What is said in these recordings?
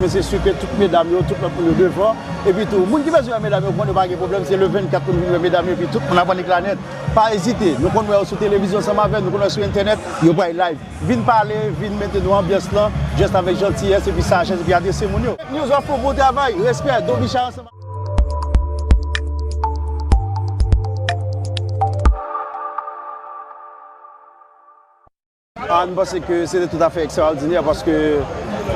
Mwen se su ke tout medam yo, tout lòt moun yo devan. Epi tou, moun ki bezwen wè medam yo konn yo pa gen pwoblèm, se le 24 pou nou vin wè medam yo epi tout moun ap annik lanèt. Pa ezite, nou konn wè yo sou televizyon ansanm avè nou, nou konn wè sou entènèt, yo bay live. Vin pale, vin mete nou anbyans lan, just avèk jantiyès epi sajès epi adrese moun yo. Fake News wap fò bon travay, respè, Don Bicha ansanm ak. M panse ke se te tout afè ekstraòdinè paske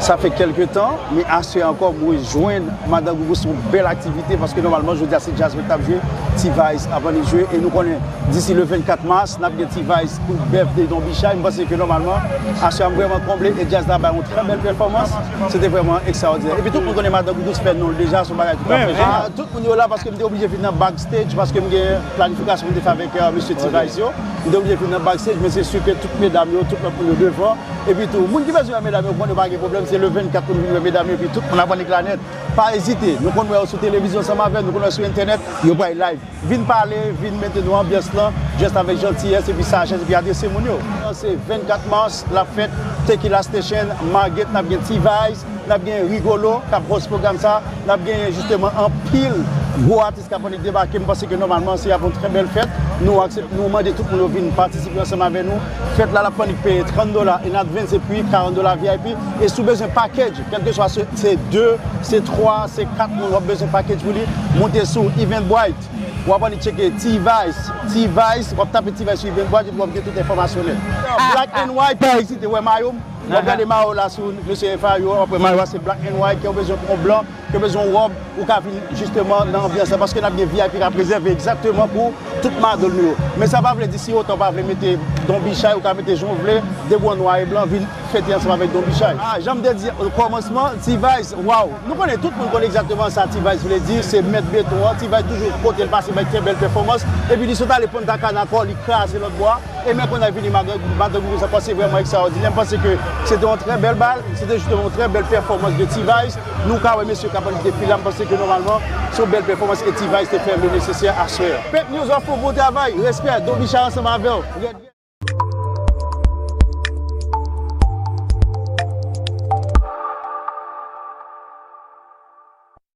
sa fè kèlke tan, men aswè ankò mwen jwenn Madan Gougou se yon bèl aktivite paske nòmalman jodi a se djaz mwen t ap jwe, T-Vice ap annik jwe e nou konnen disi le 24 mas n ap gen T-Vice pou Birthday Don Bicha e m panse ke nòmalman aswè a m vrèman konble e djaz la bay yon trè bèl pèfòmans, se te vrèman ekstraòdinè. Epi tout moun konnen Madan Gougou se fè non l deja, se yon bagay tout afè jeneral. Tout moun yo la paske m te oblije vin nan backstage paske m gen planifikasyon pou m te fè avèk mesye T-Vice yo. Li te oblije vin nan backstage men se su ke tout medam yo, tout lòt moun yo devan. Epi tou, moun ki bezwen wè medam yo konn yo pa gen pwoblèm, se le 24 pou nou vin wè medam yo epi tout moun ap annik la nèt. Pa ezite, nou konn wè yo sou televizyon ansanm avè nou, nou konn wè sou entènèt, yo bay like. Vin pale, vin mete nou anbyans lan just avèk jantiyès epi sajès epi adrese moun yo. An se 24 mars lap fèt Tequila Station Margate nap gen T-Vice, nap gen Rigolo kap host pwogram sa, nap genyen jisteman anpil gwo atis. Skafonik debake, m panse ke nòmalman se ap yon trè bèl fèt, nou aksepte, nou mande tout moun yo vin patisipe ansanm avè nou, fèt la Lafrannit peye 30 dola in advance epi 40 dola vip, e si w bezwen package, kèlkeswa se 2, se 3, se 4 moun wap bezwen package pou li, moute sou Eventbrite, wap ale tcheke T-vice, T-vice, wap tape T-vice sou Eventbrite epi wap gen tout enfòmasyon nèt. Black and White, pa ezite, wè mayo m, wap gade mayo la sou Mesye FA yo, wap wè mayo a se Black and White, kè w bezwen pou yon blan, Yo bezwen yon rob ou ka vin justement nan anbyans la paske nap gen vip kap rezève egzakteman pou tout madol nou yo men sa pa vle di si otan ou pa vle mete don bichay ou ka mete jan ou vle depi w an nwa e blan vin fete ansanm avèk don bichay. Ah janm te di o kòmansman T-vice waww nou konnen tout moun konnen egzakteman sa T-vice vle di se mèt beton an T-vice toujou kote l pase bay fè bèl pèfòmans epi li sot ale Punta Cana ankò li kraze lòt bò a e men kounye a li vini Madanguy Rouz ankò se vrèman ekstraòdinè m panse ke se te yon trè bèl bal se te jisteman yon trè bèl pèfòmans de T-vice. Nou ka wè mesye kap annik depi la, m panse ke nòmalman se yon bèl pèfòmans ke T-vice te fè le nesesè aswè a. Fake news wap fò bon travay respè Don Bicha ansanm avèw.